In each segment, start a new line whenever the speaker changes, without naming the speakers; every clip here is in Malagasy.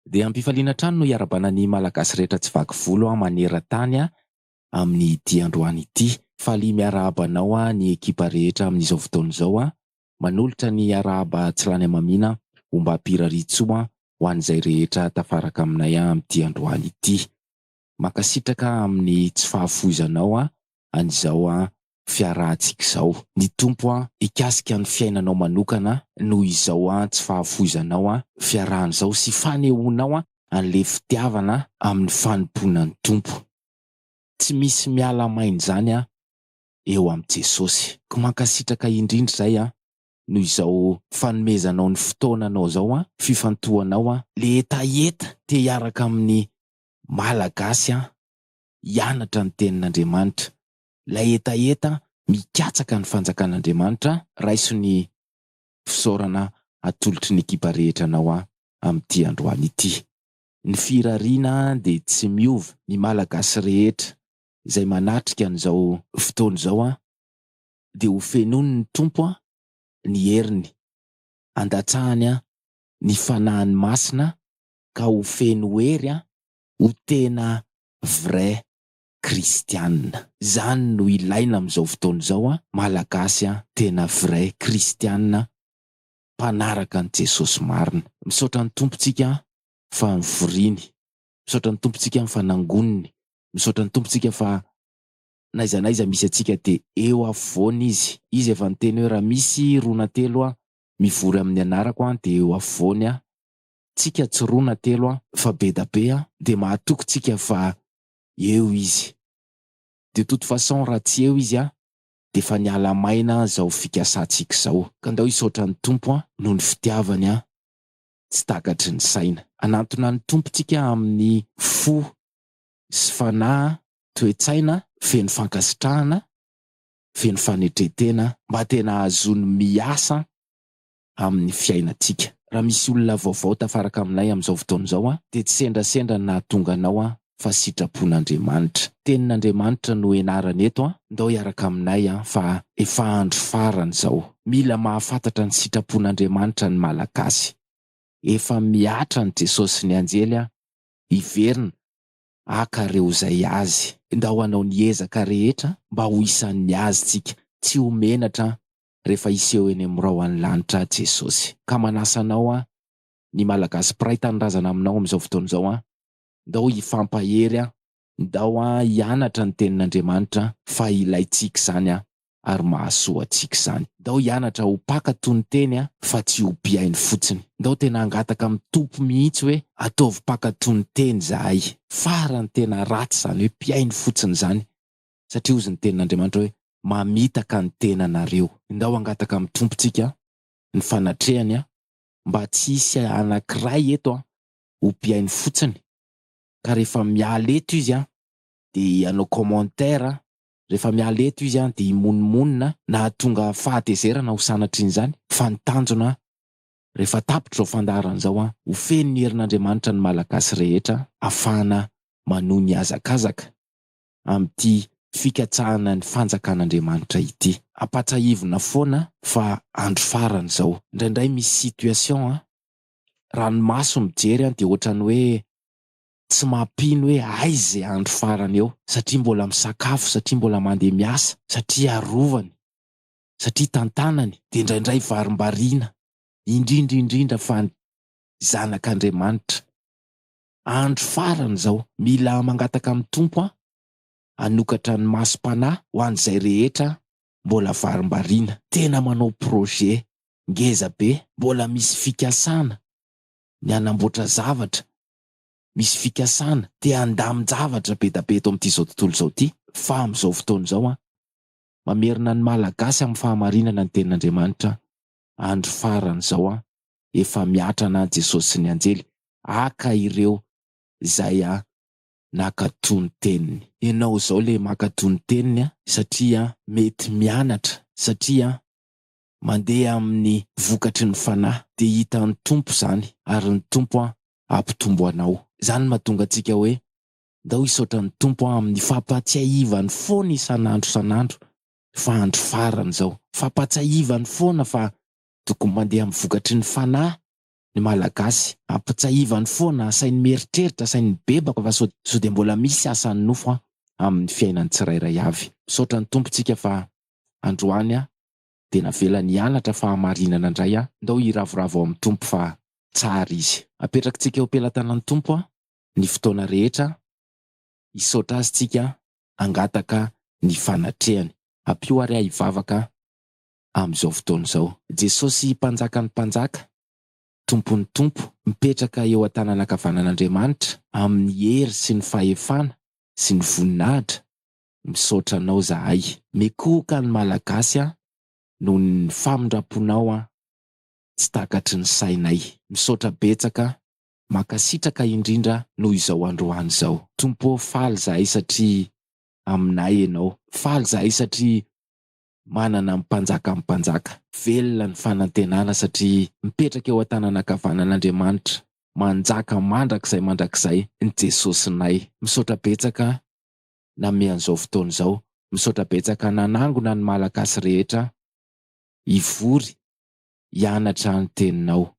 Dia am-pifaliana hatrany no iarabana ny Malagasy rehetra tsy vaky volo maneran-tany amin' ity androany ity. Faly miarahaba anao ny ekipa rehetra amin' izao fotoana izao. Manolotra ny arahaba tsy lany hamamiana, ombam-piraritsoa ho an' izay rehetra tafaraka aminay amin' ity androany ity. Mankasitraka amin' ny tsy fahafoizanao an' izao fiarahantsika izao. Ny Tompo an hikasika ny fiainanao manokana noho izao an tsy fahafoizanao an fiarahana izao sy fanehoanao an anle fitiavana amin'ny fanompoana ny Tompo. Tsy misy miala main'izany an eo amin'i Jesosy. Ko mankasitraka indrindra izay an noho izao fanomezanao ny fotoananao izao an fifantohanao an. Le hetaheta te hiaraka amin'ny Malagasy an hianatra ny tenin'Andriamanitra ilay hetaheta mikatsaka ny fanjakan'Andriamanitra raiso ny fisaorana atolotry ny ekipa rehetra anao aho amin'ity androany ity. Ny firariana dia tsy miova, ny Malagasy rehetra izay manatrika an'izao fotoana izao dia ho fenoin'ny Tompo ny heriny, andatsahany ny Fanahiny Masina ka ho feno hery, ho tena vrai kristianina. Zany no ilaina amizao fotoana izao an, malagasy an, tena vrai kristianina mpanaraka an'i Jesosy marina. Misaotra ny Tompontsika fa nivoriany, misaotra ny Tompontsika fa nangoniny, misaotra ny Tompontsika fa n'aiza n'aiza misy antsika dia eo afovoany Izy. Izy efa niteny hoe raha misy roa na telo an, mivory amin'ny anarako an dia eo afovoany an, tsika tsy roa na telo an, fa bedabe an, dia mahatoky tsika fa eo izy. De toute façon raha tsy eo izy a, defa niala maina zao fikasantsika zao. Ka ndao hisaotra ny Tompo an, noho ny fitiavany an, tsy takatry ny saina. Anantona ny Tompo tsika amin'ny fo sy fanahy an, toe-tsaina feno fankasitrahana, feno fanetretena, mba tena ahazoany miasa amin'ny fiainantsika. Raha misy olona vaovao tafaraka aminay amin'izao fotoana izao aho, dia tsy sendrasendra ny nahatonga anao aho fa sitrapon'Andriamanitra. Tenin'Andriamanitra no ianarana eto an, ndao hiaraka aminay an fa efa andro farany izao. Mila mahafantatra ny sitrapon'Andriamanitra ny Malagasy. Efa mihatra an'i Jesosy sy ny anjely an, hiverina haka ireo izay Azy. Ndao hanao ny ezaka rehetra mba ho isan'ny Azy tsika, tsy ho menatra an, rehefa hiseho eny amin'ny rahon'ny lanitra Jesosy. Ka manasa anao aho, ny Malagasy mpiray tanindrazana aminao amin'izao fotoana izao an! ndao hifampahery an! ndao hianatra ny Tenin'Andriamanitra fa ilaintsika izany an! ary mahasoa antsika izany. Ndao hianatra ho mpaka tonon-teny an! fa tsy ho mpihaino fotsiny. Ndao tena hangataka amin'ny Tompo mihitsy hoe, ataovy mpaka tonon-teny izahay. Farany tena ratsy izany hoe mpihaino fotsiny izany, satria hozy ny tenin'Andriamanitra hoe, Mamitaka ny tenanareo. Ndao hangataka amin'ny Tompontsika ny fanatrehany mba tsy hisy anankiray eto ho mpihaino fotsiny, ka rehefa miala eto izy dia hanao commentaire, rehefa miala eto izy dia himonomonona na hahatonga fahatezerana ho sanatrin'izany, fa ny tanjona rehefa tapitra izao fandaharana izao, ho feno ny herin'Andriamanitra ny Malagasy rehetra hafahana manohy ny hazakazaka. amin'ity fikatsahana ny fanjakan'Andriamanitra ity. Ampatsahivina foana fa andro farany izao. Indraindray misy situation an, raha ny maso mijery an dia ohatran'ny hoe tsy mampino hoe aiza e andro farany eo, satria mbola misakafo, satria mbola mandeha miasa, satria arovany, satria tantanany, dia indraindray varimbariana, indrindra indrindra fa ny zanak'Andriamanitra. Andro farany izao, mila mangataka amin'ny Tompo aho hanokatra ny masom-panahy ho an'izay rehetra mbola varimbariana, tena manao projet ngeza be, mbola misy fikasana ny hanamboatra zavatra, misy fikasana te handamin-javatra be da be eto amin'itizao tontolo izao ity, fa amin'izao fotoana izao an, mamerina ny Malagasy amin'ny fahamarinana ny tenin'Andriamanitra andro farany izao an! Efa mihatra anah Jesosy sy ny anjely haka ireo izay an nakato ny teniny. Enao izao le makato ny teniny an! Satria an mety mianatra satria an mandeha aminy vokatry ny fanahy dia hita ny Tompo izany ary ny Tompo an hampitombo anao. Izany mahatonga antsika hoe ndao hisaotra ny Tompo an aminy fampahatsiahivany foana isanandro isanandro fa andro farany izao. Fampatsahivany foana fa tokony mandeha amin'ny vokatry ny fanahy ny Malagasy. Ampatsahivany foana, asainy mieritreritra, asainy mibebaka fa sao sao dia mbola misy asan'ny nofo amin'ny fiainan'ny tsirairay avy. Misaotra ny Tompontsika fa androany dia navelany hianatra fahamarinana indray aho. Ndao hiravoravo ao amin'ny Tompo fa tsara Izy. Apetrakitsika eo am-pelatanan'ny Tompo ny fotoana rehetra Hisaotra Azy tsika hangataka ny fanatrehany. Ampio ary ahy hivavaka amin'izao fotoana izao. Jesosy Mpanjakan'ny mpanjaka, Tompon'ny tompo, mipetraka eo an-tanan'ankavanan'Andriamanitra, amin'ny hery sy ny fahefana sy ny voninahitra, misaotra Anao zahay. Mikohoka ny Malagasy an! noho ny famindramponao an! tsy takatry ny sainay. Misaotra betsaka Mankasitraka indrindra noho izao androany izao. Tompo ô faly zahay satria aminay enao, faly zahay satria manana ny mpanjakan'ny mpanjaka, velona ny fanantenana satria mipetraka eo an-tanan'ankavanan'Andriamanitra, manjaka mandrakizay mandrakizay ny Jesosinay. Misaotra betsaka nameha an'izao fotoana izao, misaotra betsaka nanangona ny Malagasy rehetra hivory hianatra ny teninao.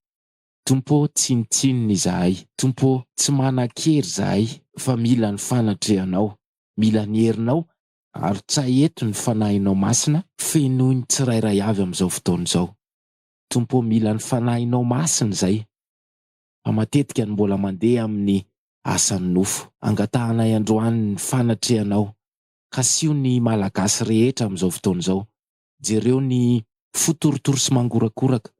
Tompo ô, tsinontsinona izahay. Tompo ô, tsy manan-kery izahay, fa mila ny fanatrehanao. Mila ny herinao. Arotsahy eto ny Fanahinao Masina, fenoy ny tsirairay avy amin'izao fotoana izao. Tompo ô, mila ny Fanahinao Masina izay, fa matetika no mbola mandeha amin'ny asan'ny nofo. Angatahanay androany ny fanatrehanao. Kasio ny Malagasy rehetra amin'izao fotoana izao. Jereo ny fo torotoro sy mangorakoraka.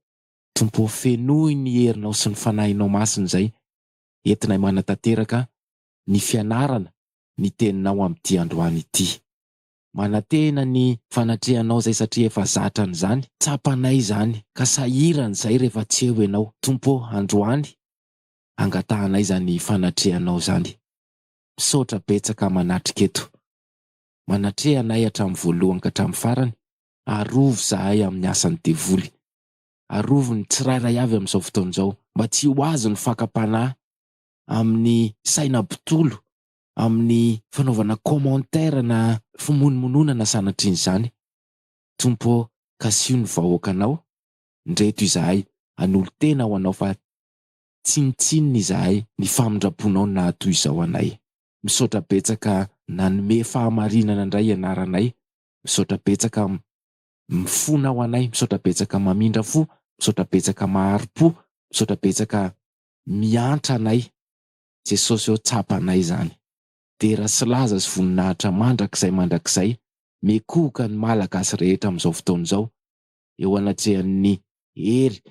Tompo ô fenoy ny herinao sy ny fanahinao masina izay entinay manatanteraka ny fianarana ny teninao amin'ity androany ity. Manantena ny fanatrehanao izay satria efa zatra an'izany, tsapanay izany ka sahirana izay rehefa tsy eo ianao. Tompo ô androany angatahanay izany fanatrehanao izany. Misaotra betsaka manatrika eto. Manatreha anay hatramin'ny voalohany ka hatramin'ny farany, arovy izahay amin'ny asan'ny devoly. Arovy ny tsirairay avy amin'izao fotoana izao mba tsy ho azo ny fakam-panahy amin'ny saina mpitolo amin'ny fanaovana commentaire na fimonomononana sanatrian'izany Tompo ô kasiho ny vahoakanao ndreto izahay hanolo-tena ho anao fa tsinontsinona izahay ny famindram-ponao naha toy izao anay Misaotra betsaka nanome fahamarinana indray ianaranay Misaotra betsaka Mifona ho anay misaotra betsaka mamindra fo misaotra betsaka mahary po misaotra betsaka miantra anay Jesosy ô tsapa anay izany. Dera sy laza sy voninahitra mandrakizay mandrakizay mikohoka ny malagasy rehetra amin'izao fotoana izao eo anatrehan'ny hery,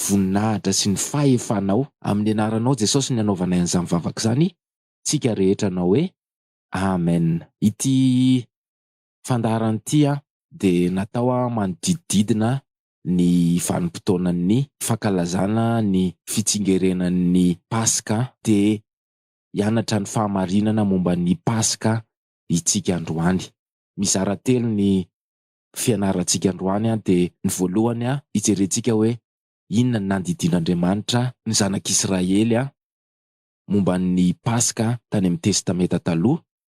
voninahitra sy ny fahefanao. Amin'ny anaranao Jesosy ny anaovanay an'izany vavaka izany tsika rehetra anao hoe Amen. Ity Fandaharan'ity dia natao manodidididina ny vanim-potoanan'ny fankalazana ny fitsingerenan'ny Paska te hianatra ny fahamarinana momba ny Paska itsika androany. Mizara telo ny fianarantsika androany dia ny voalohany hijerentsika hoe inona ny nandidian'Andriamanitra ny zanak'Israely momba ny Paska tany amin'ny Testamenta Taloha.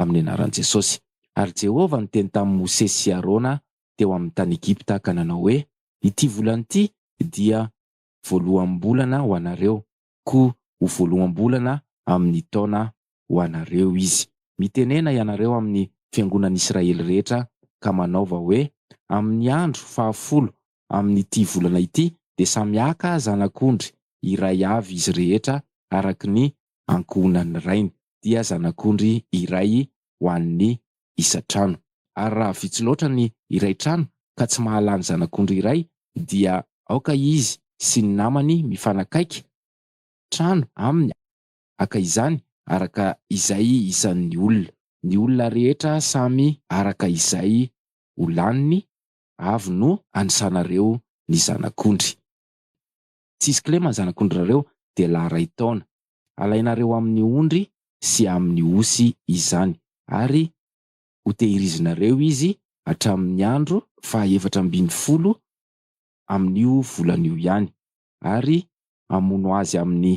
amin'ny anaran'i Jesosy. Ary Jehovah niteny tamin'i Mosesy sy Arona teo amin'ny tany Egypta ka nanao hoe, Ity volana ity dia voaloham-bolana ho anareo, koa ho voaloham-bolana amin'ny taona ho anareo izy. Mitenena ianareo amin'ny fiangonan'ny Israely rehetra ka manaova hoe, Amin'ny andro fahafolo amin'ity volana ity dia samy haka zanak'ondry iray avy izy rehetra araka ny ankohonan'ny rainy, dia zanak'ondry iray ho an'ny isan-trano. Ary raha vitsy loatra ny iray trano ka tsy mahalà ny zanak'ondry iray, dia aoka izy sy ny namany mifanakaiky trano aminy haka izany araka izay isan'ny olona. Ny olona rehetra samy araka izay ho laniny avy no anisanareo ny zanak'ondry. Tsisy kilema ny zanak'ondrareo dia lahy iray taona. Alainareo amin'ny ondry sy amin'ny osy izany ary hotehirizinareo izy hatramin'ny andro fahaefatra ambin'ny folo amin'io volana io ihany, ary hamono azy amin'ny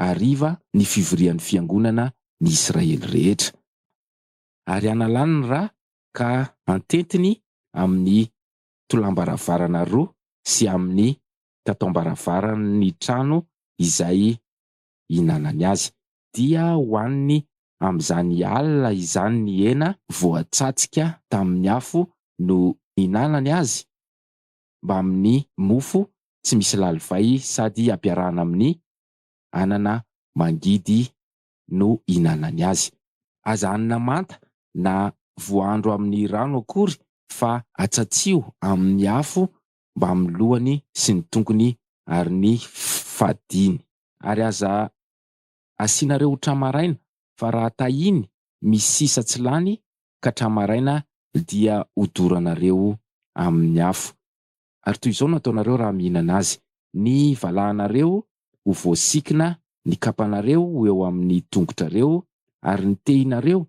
hariva ny fivorian'ny fiangonana ny Israely rehetra. Ary hanalany ny ra ka hantentiny amin'ny tolambaravarana roa sy amin'ny tataom-baravaran'ny trano izay ihinanany azy. Dia hohaniny amin'izany alina izany ny hena voatsatska tamin'ny afo no ihinanany azy mbamin'ny mofo tsy misy lalivay sady ampiarahana amin'ny anana mangidy no ihinanany azy. Aza hanina manta na voahandro amin'ny rano akory fa atsatsio amin'ny afo mbamin'ny lohany sy ny tongony ary ny fadiny. Ary aza asiana reo tramaraina fa raha tahiny misy sisa tsy lany ka tramaraina dia hodoranareo amin'ny afo. ary toy izao no ataonareo raha mihinana azy, ny valahanareo ho voasikina, ny kapanareo ho eo amin'ny tongotrareo, ary ny tehinareo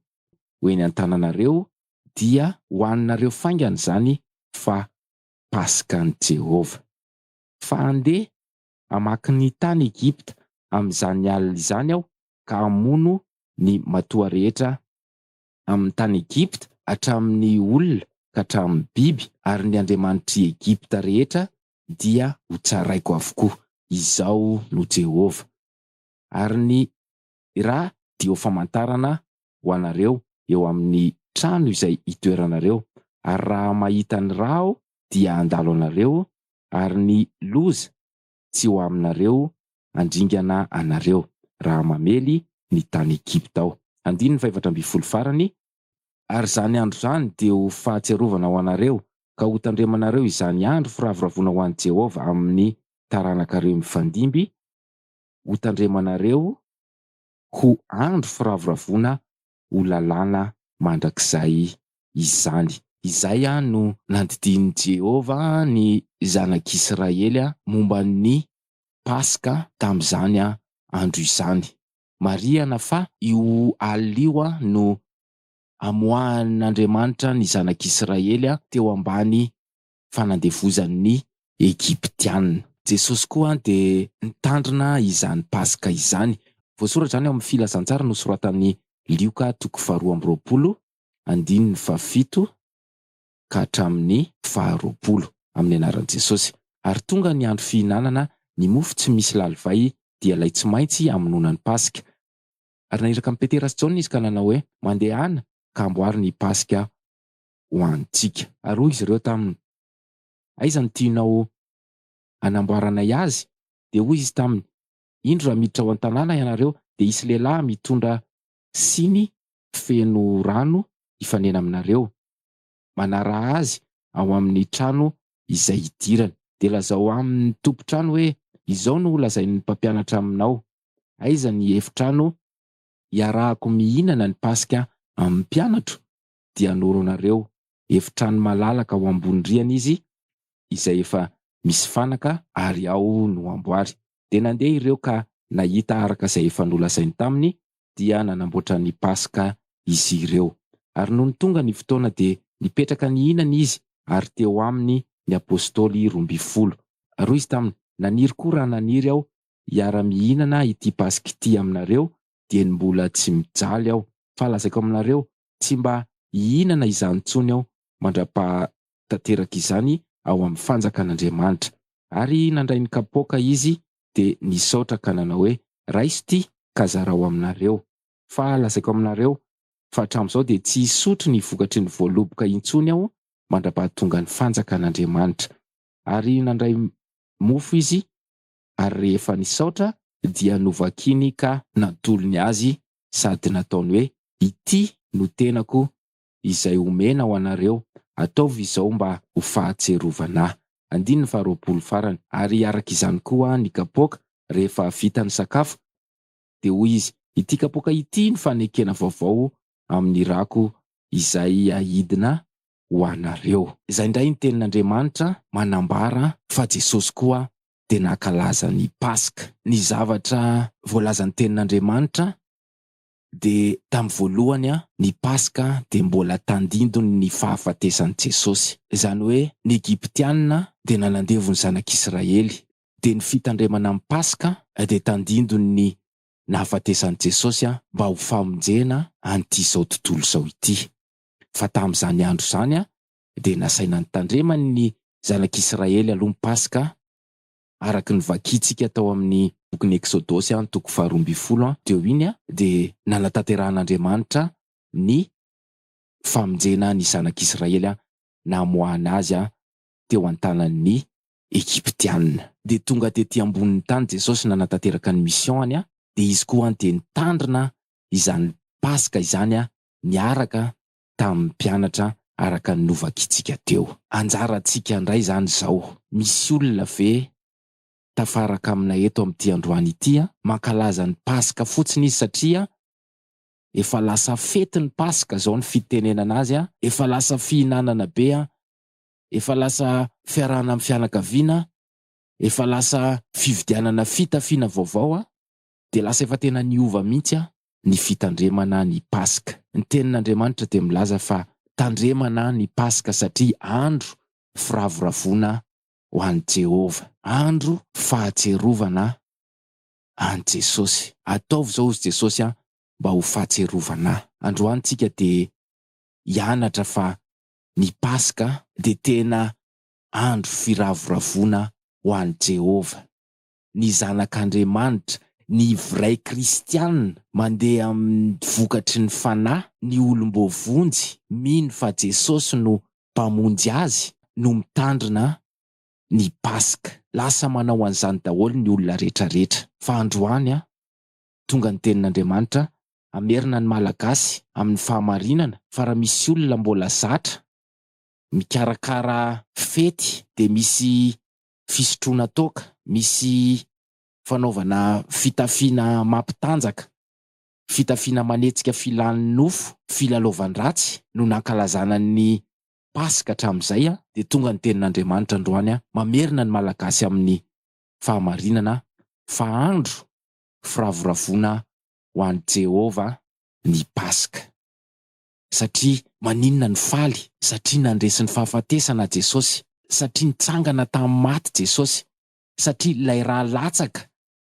ho eny an-tananareo, dia hohaninareo faingana izany, fa Pasikany Jehovah. Fa handeha hamaky ny tany Egypta amin'izany alina izany aho, ka hamono ny matoa rehetra amin'ny tany Egypta, hatramin'ny olona ka hatramin'ny biby, ary ny andriamanitr'i Egypta rehetra dia hotsaraiko avokoa. Izaho no Jehovah. Ary ny ra dia ho famantarana ho anareo eo amin'ny trano izay itoeranareo, ary raha mahita ny ra aho, dia handalo anareo, ary ny loza tsy ho aminareo handringana anareo, raha mamely ny tany Egypta aho. Andininy fahefatra ambin'ny folo farany. Ary izany andro izany dia ho fahatsiarovana ho anareo, ka hotandremanareo izany andro firavoravoana ho an'i Jehovah amin'ny taranakareo mifandimby, hotandremanareo ho andro firavoravoana ho lalàna mandrakizay izany. Izay no nandidian'i Jehovah ny zanak'Israely momba ny Paska tamin'izany andro izany. Marihana fa io alina io no amoahan'Andriamanitra ny zanak'Israely teo ambany fanandevozan' ny Egyptiana. Jesosy koa dia nitandrina izany Paska izany. Voasoratra izany ao amin' ny Filazantsara nosoratan' i Lioka toko faharoa amby roapolo andininy fahafito ka hatramin' ny faharoapolo, amin' ny anaran' i Jesosy. Ary tonga ny andro fihinanana ny mofo tsy misy lalivay, dia ilay tsy maintsy hamonoana ny Paska. Ary naniraka an' i Petera sy Jaona izy ka nanao hoe, Mandehana, ka amboary ny Paska ho antsika. Ary hoy izy ireo taminy, Aiza no tianao hanamboaranay azy? Dia hoy izy taminy, Indro raha miditra ao an-tanàna ianareo, dia hisy lehilahy mitondra siny feno rano hifanena aminareo, manaraha azy ao amin'ny trano izay hidirany. Dia lazao amin'ny tompon-trano hoe, Izao no holazain'ny mpampianatra aminao, Aiza ny efitrano hiarahako mihinana ny Paska amin'ny mpianatro? dia noronareo efitrano malalaka ao ambony rihana izy izay efa misy fanaka ary ao no amboary. Dia nandeha ireo ka nahita araka izay efa nolazainy taminy dia nanamboatra ny Paska izy ireo. Ary nony tonga ny fotoana dia nipetraka nihinana izy ary teo aminy ny Apostoly roa ambin'ny folo. Ary hoy izy taminy, Naniry koa raha naniry aho hiara-mihinana ity Paska ity aminareo dia ny mbola tsy mijaly aho. Fa lazaiko aminareo tsy mba hihinana izany intsony aho mandra-paha tanteraka izany ao amin'ny fanjakan'Andriamanitra. Ary nandray ny kapoaka izy dia nisaotra ka nanao hoe, Raiso ity ka zarao aminareo. Fa lazaiko aminareo, fa hatramin'izao dia tsy hisotro ny vokatry ny voaloboka intsony aho mandra-paha tonga ny fanjakan'Andriamanitra. Ary nandray mofo izy, ary rehefa nisaotra dia novakiny ka natolony azy sady nataony hoe, Ity no tenako izay omena ho anareo, ataovy izao mba ho fahatsiarovana ahy. Andininy faharoapolo farany, Ary araka izany koa ny kapoaka, rehefa vita ny sakafo, dia hoy izy, Ity kapoaka ity no fanekena vaovao amin'ny rako izay ahidina ho anareo. Izay indray ny tenin'Andriamanitra manambara fa Jesosy koa dia nankalaza ny Paska. Ny zavatra voalazan'ny Tenin'Andriamanitra dia tamin'ny voalohany ny Paska dia mbola tandindon' ny fahafatesan'i Jesosy. Izany hoe ny Egyptiana dia nanandevo ny Zanak'Israely. Dia ny fitandremana ny Paska dia tandindon' ny nahafatesan'i Jesosy mba ho famonjena an'ity izao tontolo izao ity. Fa tamin'izany andro izany dia nasaina nitandrema ny zanak'Israely aloha ny Paska, araka ny vakintsika tao amin'ny bokin'ny Eksodosy an, toko faharoa ambin'ny folo teo iny an, dia nanatanterahan'Andriamanitra ny famonjena ny zanak'Israely namoahana azy teo an-tanan'ny Egyptiana. Dia tonga tety ambonin'ny tany Jesosy nanatanteraka ny mission-ny, dia izy koa dia nitandrina izany Paska izany niaraka tamin'ny mpianatra araka ny novakitsika teo. Anjarantsika indray izany izao. Misy olona ve tafaraka aminay eto amin'ity androany ity an? Mankalaza ny Paska fotsiny izy satria efa lasa fety ny Paska izao ny fitenenana azy an, efa lasa fihinanana be an, efa lasa fiarahana amin'ny fianakaviana an, efa lasa fividianana fitafiana vaovao an. dia lasa efa tena niova mihitsy an ny fitandremana ny Paska. Ny tenin'Andriamanitra dia milaza fa tandremana ny Paska satria andro firavoravoana ho an'i Jehovah, andro fahatsiarovana an'i Jesosy. Ataovy izao hozy Jesosy an mba ho fahatsiarovana ahy. Androany tsika dia hianatra fa ny Paska dia tena andro firavoravoana ho an'i Jehovah. ny Zanak'Andriamanitra, ny vray kristiana mandeha amin'ny vokatry ny Fanahy, ny olom-boavonjy mino fa Jesosy no Mpamonjy azy no mitandrina ny Paska. Lasa manao an'izany daholo ny olona rehetrarehetra. Fa androany tonga ny Tenin'Andriamanitra hamerina ny Malagasy amin'ny fahamarinana fa raha misy olona mbola zatra mikarakara fety dia misy fisotroana toaka, misy fanaovana fitafiana mampitanjaka, fitafiana manetsika filan'ny nofo, filalaovan-dratsy no nankalazana ny Paska hatramin'izay dia tonga ny tenin'Andriamanitra androany mamerina ny Malagasy amin'ny fahamarinana fa andro firavoravoana ho an'i Jehovah ny Paska. Satria maninona no faly? Satria nandresy ny fahafatesana Jesosy. Satria nitsangana tamin'ny maty Jesosy. Satria ilay ra latsaka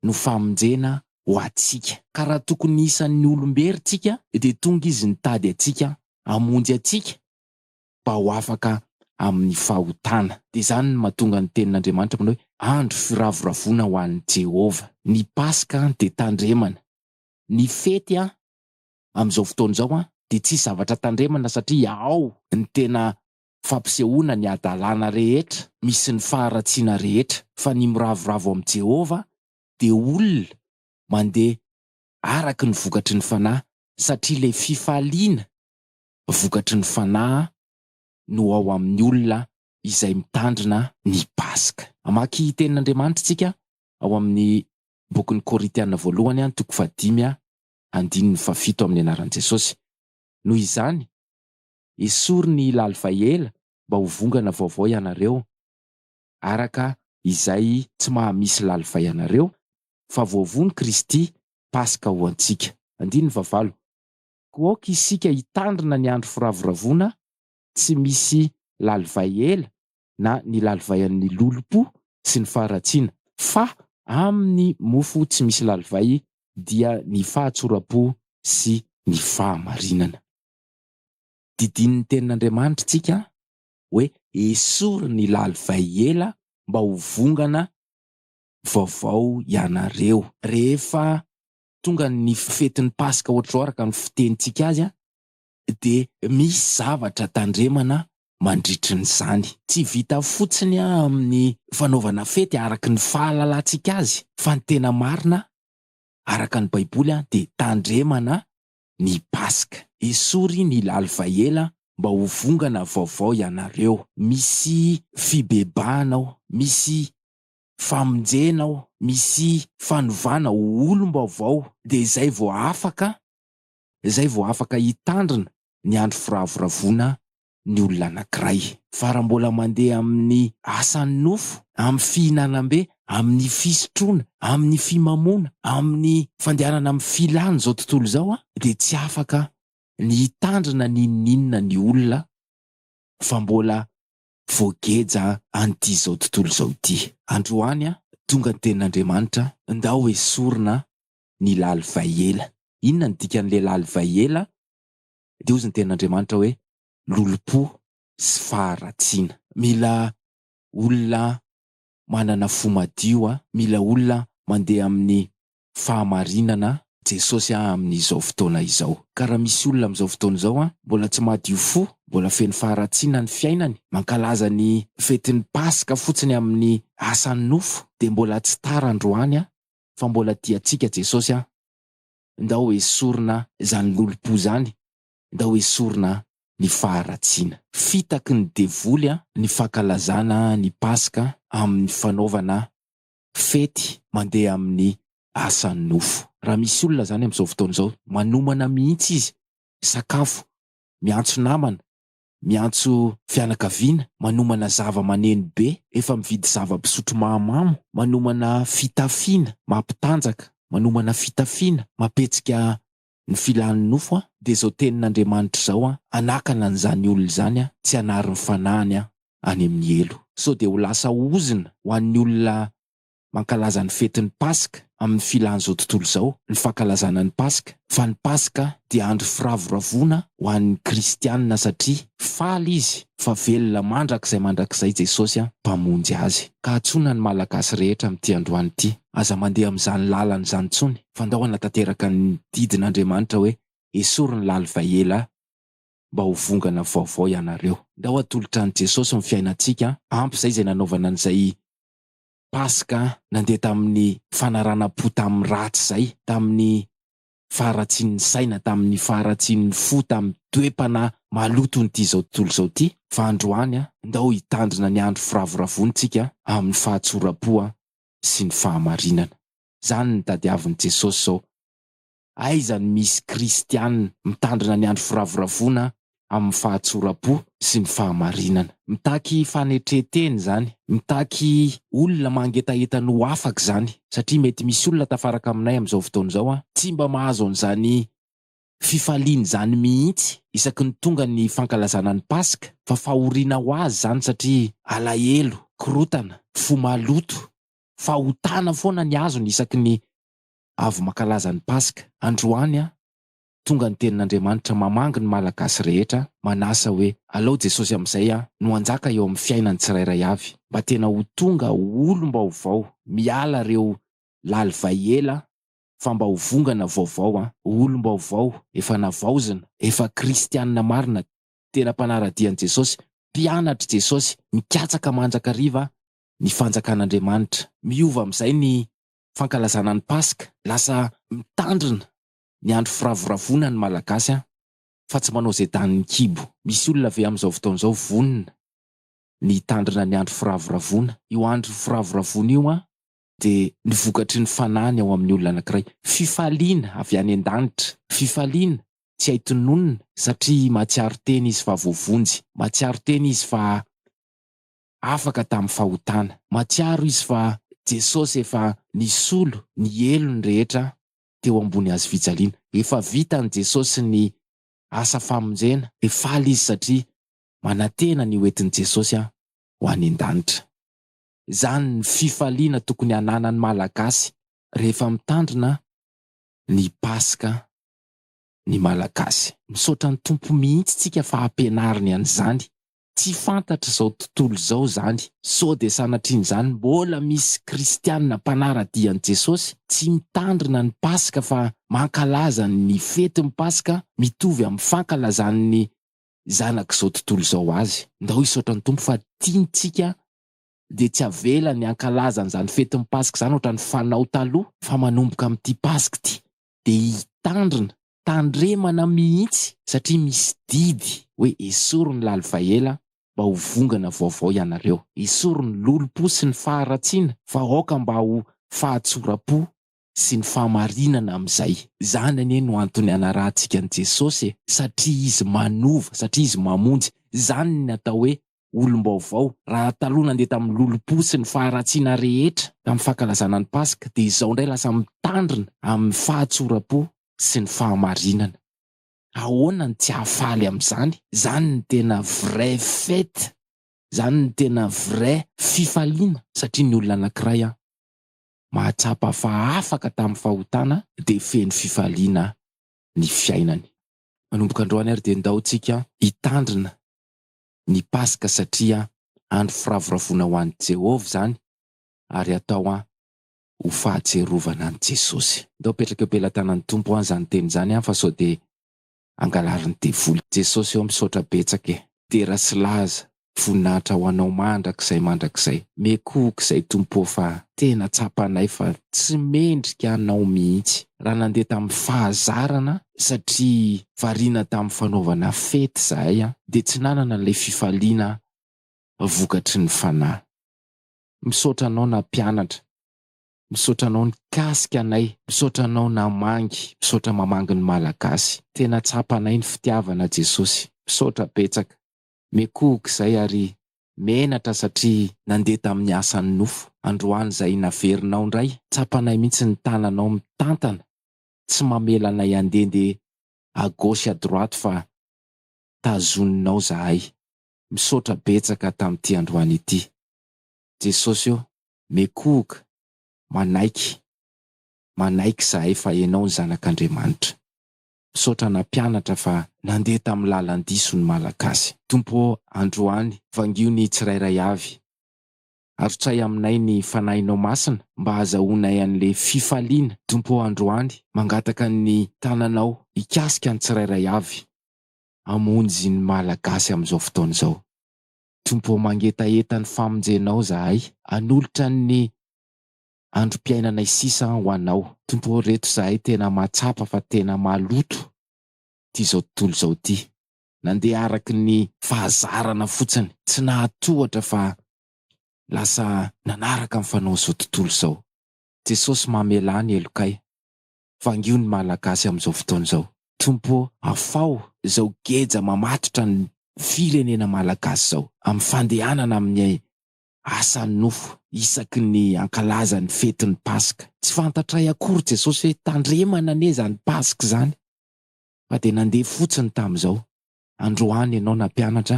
no famonjena ho antsika. Ka raha tokony isan'ny olom-bery tsika dia tonga Izy nitady antsika hamonjy antsika mba ho afaka amin'ny fahotana. Dia izany no mahatonga ny tenin'Andriamanitra manao hoe, andro firavoravoana ho an'i Jehovah. Ny Paska dia tandremana. Ny fety amin'izao fotoana izao an, dia tsy zavatra tandremana satria ao ny tena fampisehoana ny hadalana rehetra misy ny faharatsiana rehetra, fa ny miravoravo amin'i Jehovah dia olona mandeha araka ny vokatry ny fanahy, satria ilay fifaliana vokatry ny fanahy no ao amin'ny olona izay mitandrina ny Paska. Hamaky tenin'Andriamanitra isika ao amin'ny bokin'ny Korintiana voalohany an, toko fahadimy an, andininy fahafito amin'ny anaran'i Jesosy. Noho izany, esory ny lalivay ela mba ho vongana vaovao ianareo, araka izay tsy maha-misy lalivay anareo, fa voavono Kristy, Paska ho antsika. Andininy fahavalo. Koa aoka isika hitandrina ny andro firavoravoana tsy misy lalivay ela na ny lalivaian'ny lolompo sy ny faharatsiana, fa amin'ny mofo tsy misy lalivay dia ny fahatsoram-po sy ny fahamarinana. Didinin'ny Tenin'Andriamanitra isika hoe esory ny lalivay ela mba ho vongana vaovao ianareo. Rehefa tonga ny fetin'ny Paska ohatr'izao araka ny fitenintsika azy, dia misy zavatra tandremana mandritry ny izany. Tsy vita fotsiny amin'ny fanaovana fety araka ny fahalalantsika azy fa ny tena marina araka ny baiboly dia tandremana ny paska. Esory ny lalivaela mba ho vongana vaovao ianareo. Misy fibebahana ao, misy famonjena ao, misy fanovana ho olom-baovao dia izay vao afaka izay vao afaka hitandrina ny andro firavoravoana ny olona anankiray. Fa raha mbola mandeha amin'ny asan'ny nofo, amin'ny fihinanam-be, amin'ny fisotroana, amin'ny fimamoana, amin'ny fandehanana amin'ny filan'izao tontolo izao, dia tsy afaka ny hitandrina n'inon'inona ny olona fa mbola voageja an'ity izao tontolo izao ity. Androany, tonga ny tenin'Andriamanitra, ndao esorina ny lalivay ela. Inona ny dikan'ilay lalivay ela? Dia hozy ny tenin'Andriamanitra hoe, lolompo sy faharatsiana. Mila olona manana fo madio aho, mila olona mandeha amin'ny fahamarinana. Jesosy aho amin'izao fotoana izao. Ka raha misy olona amin'izao fotoana izao mbola tsy madio fo, mbola feno faharatsiana ny fiainany, mankalaza ny fetin'ny Paska fotsiny amin'ny asan'ny nofo, dia mbola tsy tara androany fa mbola tia tsika Jesosy a! Ndao esorina zany lolompo zany, ndao esorina ny faharatsiana. Fitaky ny devoly ny fankalazana ny Paska amin'ny fanaovana fety mandeha amin'ny asan'ny nofo. Raha misy olona zany amin'izao fotoana izao, manomana mihitsy izy sakafo, miantso namana, miantso fianakaviana, manomana zava-maneno be, efa mividy zava-pisotro mahamamo, manomana fitafiana mampitanjaka, manomana fitafiana mampihetsika ny filan'ny nofo aho, dia izao tenin'Andriamanitra izao aho, Hanakana an'izany olona izany aho, tsy hanary ny fanahiny aho any amin'ny helo. Sao dia ho lasa ozona ho an'ny olona mankalaza ny fetin'ny Paska amin'ny filàn'izao tontolo izao ny fankalazana ny Paska, fa ny Paska dia andro firavoravoana ho an'ny kristiana satria faly izy fa velona mandrakizay mandrakizay Jesosy Mpamonjy azy. Ka antsoina ny Malagasy rehetra amin'ity androany ity, aza mandeha amin'izany làlana izany intsony fa ndao hanatanteraka ny didin'Andriamanitra hoe, Esory ny lalivay ela mba ho vongana vaovao ianareo. Ndao hatolotra an'i Jesosy ny fiainantsika, ampy izay izay nanaovana an'izay Paska nandeha tamin'ny fanaranam-po tamin'ny ratsy izay, tamin'ny faharatsian'ny saina, tamin'ny faharatsian'ny fo, tamin'ny toe-panahy maloton'ity izao tontolo izao ity. Fa androany, ndao hitandrina ny andro firavoravoantsika amin'ny fahatsoram-po sy ny fahamarinana. Izany no tadiavin'i Jesosy izao. aiza no misy kristiana mitandrina ny andro firavoravoana amin'ny fahatsoram-po sy ny fahamarinana? Mitaky fanetren-tena izany, mitaky olona mangetaheta no afaka izany, satria mety misy olona tafaraka aminay amin'izao fotoana izao tsy mba mahazo an'izany fifaliana izany mihitsy isaky ny tonga ny fankalazana ny Paska, fa fahoriana ho azy izany satria alahelo, korotana, fo maloto, fahotana foana ny azony isaky ny avy mankalaza ny Paska. Androany an! Tonga ny tenin'Andriamanitra mamangy ny Malagasy rehetra, manasa hoe, alao Jesosy amin'izay an, no hanjaka eo amin'ny fiainan'ny tsirairay avy, mba tena ho tonga olom-baovao, miala ireo lalivay ela fa mba ho vongana vaovao an! Ho olom-baovao, efa navaozina, efa kristianina marina, tena mpanara-dia an'i Jesosy, mpianatr'i Jesosy, mikatsaka mandrakariva ny fanjakan'Andriamanitra. Miova amin'izay ny fankalazana ny Paska. Lasa mitandrina ny andro firavoravoana ny Malagasy an! Fa tsy manao izay danin'ny kibo. Misy olona ve amin'izao fotoana izao vonona ny hitandrina ny andro firavoravoana? Io andro firavoravoana io an! Dia ny vokatry ny fanahiny ao amin'ny olona anankiray. Fifaliana avy any an-danitra. Fifaliana tsy hay tononina satria mahatsiaro tena izy fa voavonjy. Mahatsiaro tena izy fa afaka tamin'ny fahotana. Mahatsiaro izy fa Jesosy efa nisolo ny helony rehetra teo ambony hazo fijaliana. Efa vitan'i Jesosy ny asa famonjena. Dia faly izy satria manantena ny hoentin'i Jesosy ho any an-danitra. Izany ny fifaliana tokony hananan'ny Malagasy rehefa mitandrina ny Paska ny Malagasy. Misaotra ny Tompo mihitsy tsika fa ampianariny an'izany Tsy fantatr'izao tontolo izao izany, sao dia sanatrian'izany mbola misy kristiana mpanara-dia an'i Jesosy tsy mitandrina ny Paska fa mankalaza ny fetin'ny Paska mitovy amin'ny fankalazan'ny zanak'izao tontolo izao azy. Ndao hisaotra ny Tompo fa tiantsika dia tsy avelany hankalaza an'izany fetin'ny Paska izany ohatran'ny fanao taloha fa manomboka amin'ity Paska ity dia hitandrina, tandremana mihitsy satria misy didy hoe esory ny lalovaha ela mba ho vongana vaovao ianareo, esory ny lolompo sy ny faharatsiana fa aoka mba ho fahatsoram-po sy ny fahamarinana amin'izay. Izany anie no antony hanarahantsika an'i Jesosy e, satria Izy manova, satria Izy mamonjy, izany ny atao hoe olom-baovao. Raha taloha nandeha tamin'ny lolompo sy ny faharatsiana rehetra tamin'ny fankalazana ny Paska, dia izao indray lasa mitandrina amin'ny fahatsoram-po sy ny fahamarinana. Ahoana no tsy hahafaly amin'izany? Izany no tena vraie fête! Izany no tena vraie fifaliana! Satria ny olona anankiray mahatsapa fa afaka tamin'ny fahotana dia feno fifaliana ny fiainany. Manomboka androany ary dia ndao tsika hitandrina ny Paska satria andro firavoravoana ho an'i Jehovah izany, ary atao ho fahatsiarovana an'i Jesosy. Ndao apetraka eo pelatanan'ny Tompo an izany teny izany an fa sao dia angalarin'ny devoly. Jesosy ô misaotra betsaka e. Dera sy laza, voninahitra ho anao mandrakizay mandrakizay. Miekohoka izay Tompo ô fa. Tena tsapanay fa tsy mendrika anao mihitsy. Raha nandeha tamin'ny fahazarana satria variana tamin'ny fanaovana fety izahay dia tsy nanana an'ilay fifaliana vokatry ny fanahy. Misaotra anao nampianatra. Misaotra anao nikasika anay. Misaotra anao namangy. Misaotra mamangy ny Malagasy. Tena tsapanay ny fitiavana Jesosy. Misaotra betsaka. Miekohoka izay ary menatra satria nandeha tamin'ny asan'ny nofo. Androany izay naverinao indray, tsapanay mihitsy ny tananao mitantana tsy mamela anay handeha ndeha à gauche à droite fa tazoninao zahay. Misaotra betsaka tamin'ity androany ity. Jesosy ô, mekohoka, manaiky, manaiky zahay fa Ianao ny Zanak'Andriamanitra. Misaotra nampianatra fa nandeha tamin'ny lalan-diso ny Malagasy. Tompo ô, androany, vangio ny tsirairay avy. Arotsay aminay ny Fanahinao Masina mba hazahoanay an'le fifaliana Tompo ô Androany mangataka ny tananao hikasika ny tsirairay avy Hamonjy ny Malagasy amin'izao fotoana izao Tompo ô Mangetaheta ny famonjenao zahay hanolotra ny androm-piainanay sisa ho anao Tompo ô Reto zahay tena mahatsapa fa tena maloto ty zao tontolo zao ty nandeha araka ny fahazarana fotsiny, tsy nahatohatra fa lasa nanaraka ny fanao izao tontolo izao. Jesosy mamelà ny helokay, vangio ny Malagasy amin'izao fotoana izao. Tompo ô, afaho izao geja mamatotra ny firenena Malagasy izao, amin'ny fandehanana amin'ny asa nofo isaky ny hankalaza ny fetin'ny Paska. Tsy fantatray akory Jesosy hoe tandremana anie izany Paska izany. fa dia nandeha fotsiny tamin'izao, androany ianao nampianatra,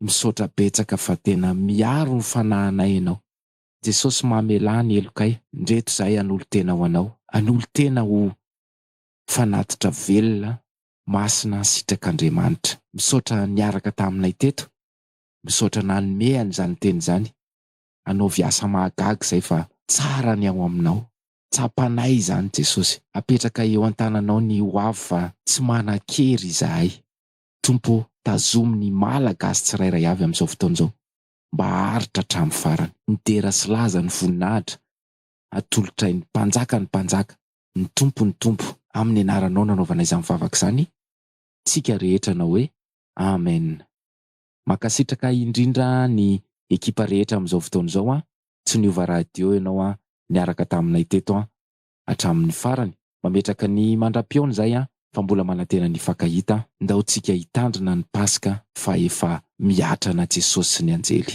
misaotra betsaka fa tena miaro ny fanahinay ianao, Jesosy mamelà ny helokay, ndreto zahay hanolo-tena ho anao, hanolo-tena ho fanatitra velona masina ansitrak'Andriamanitra, misaotra niaraka taminay teto, misaotra nanome an'izany teny izany, anaovy asa mahagaga izay fa tsara ny ao aminao, Tsapanay izany Jesosy. Apetraka eo an-tananao ny ho avy fa tsy manan-kery izahay. Tompo ô, tazomy ny Mala gasy tsirairay avy amin'izao fotoana izao mba haharitra hatramin'ny farany. Midera sy laza ny voninahitra atolotray ny Mpanjaka ny Mpanjaka, ny Tompo ny Tompo. Amin'ny anaranao nanaovana izany vavaka izany tsika rehetra anao hoe Amen. Mankasitraka indrindra ny ekipa rehetra amin'izao fotoana izao an, tsy niova radio ianao an, niaraka taminay teto an, hatramin'ny farany, mametraka ny mandra-pihaona izay an, fa mbola manantena ny hifankahita an, ndao tsika hitandrina ny paska fa efa mihatra ana Jesosy sy ny anjely.